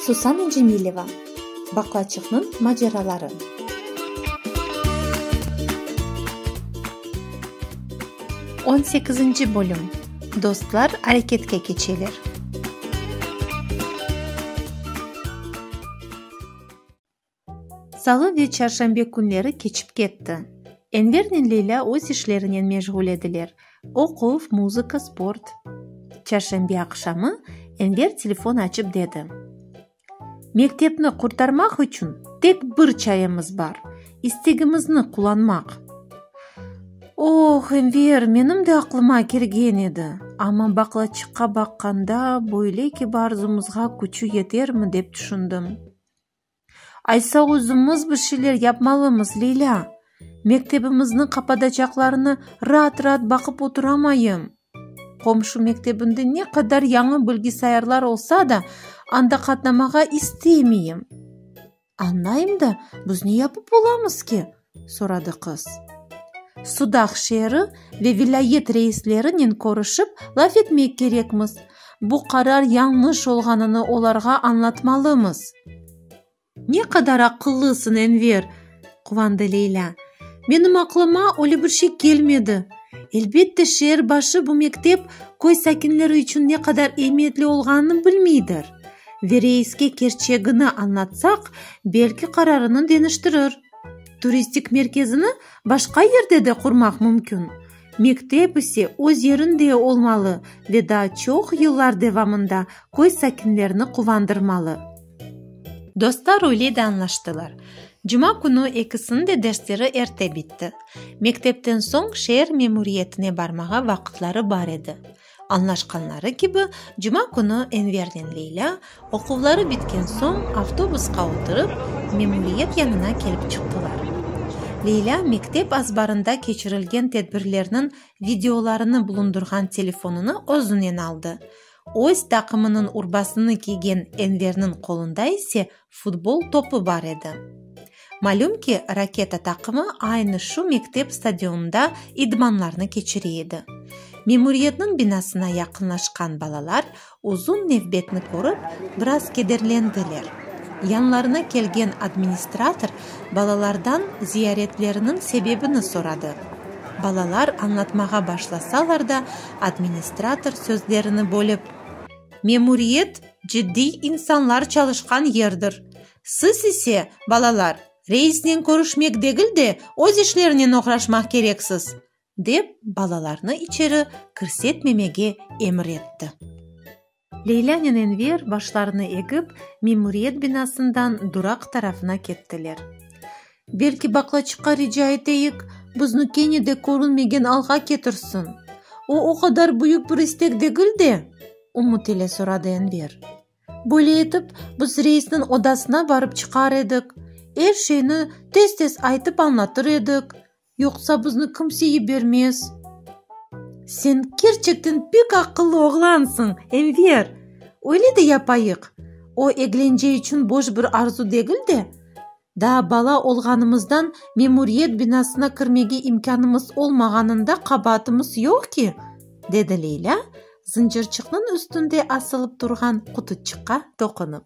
Susana Cemileva, Baqlaçıqnıñ maceraları. On sekizinci bölüm, Dostlar areketke keçeler. Salı ve çarşanbe künleri keçip ketti. Envernen Leylâ öz işlerinen meşğul ediler, oquv, muzıka, sport. Çarşanbe aqşamı Enver telefon açıp dedi. Mektepni qurtarmaq içün tek bir çaremiz bar, istegimizni qullanmaq. Oh, Enver, menim de aqlıma kelgen edi, amma baqlaçıqqa baqqanda, böyle kibar zumuzğa küçü yetermi, dep tüşündim. Aysa özümiz bir şeyler yapmalımız, Leylâ. Mektebimizni qapadacaqlarına raat-raat baqıp oturamayım. Qomşu mektebinde ne qadar yañı bilgisayarlar olsa da, anda qatnamağa isteymeyim. Añlayım da, biz ne yapıp olamız ki? soradı qız. Sudaq şeeri ve vilâyet reislerinen körüşip, laf etmek kerekmiz. Bu qarar yañlış olğanını olarğa añlatmalımız. Ne qadar aqıllısıñ, Enver! quvandı Leylâ. Menim aqlıma öyle bir şey kelmedi. Elbette, şeer başı bu mektep köy sakinleri içün ne qadar ehmiyetli olğanını bilmeydir. Ve reiske kerçegini añlatsaq, belki qararını deñiştirir. Turistik merkezini başqa yerde de qurmaq mümkün. Mektep ise öz yerinde olmalı ve daa çoq yıllar devamında köy sakinlerini quvandırmalı. Dostlar öyle de añlaştılar. Cuma künü ekisiniñ de dersleri erte bitti. Mektepten soñ şeer memuriyetine barmağa vaqıtları bar edi. Añlaşqanları kibi, cuma künü Envernen Leylâ, oquvları bitken soñ, avtobusqa oturıp, memuriyet yanına kelip çıqtılar. Leylâ mektep azbarında keçirilgen tedbirlerniñ videolarını bulundırğan telefonını özünen aldı, öz taqımınıñ urbasını kiygen Enverniñ qolunda ise Futbol topı bar edi. Malüm ki, Raketa taqımı aynı şu mektep stadionında idmanlarnı keçire edi. Memuriyetniñ binasına yaqınlaşqan balalar uzun nevbetni körip, biraz kederlendiler. Yanlarına kelgen administrator balalardan ziyaretleriniñ sebebini soradı. Balalar añlatmağa başlasalar da, administrator sözlerini bölip, Memuriyet Ciddiy insanlar çalışqan yerdir. Siz ise, balalar, reisnen körüşmek degil de, öz işlerinen oğraşmaq kereksiz, dep, balalarnı içeri kirsetmemege emir etti. Leylânen Enver başlarını egip, memuriyet binasından duraq tarafına kettiler. Belki baqlaçıqqa rica eteyik, bizni kene de körünmegen alğa ketirsin? O, o qadar büyük bir istek degil de? ümüt ile soradı Enver. Böyle etip, biz reisniñ odasına barıp çıqar edik, er şeyni tez-tez aytıp añlatır edik, Yoqsa bizni kimse yibermez. Sen kerçekten pek aqıllı oğlansıñ, Enver! Öyle de yapayıq. O eglence içün boş bir arzu degil de, daa bala olğanımızdan memuriyet binasına kirmege imkânımız olmağanında qabaatımız yoq ki, dedi Leylâ, zıncırçıqnıñ üstünde asılıp turğan qutuçıqqa toqunıp.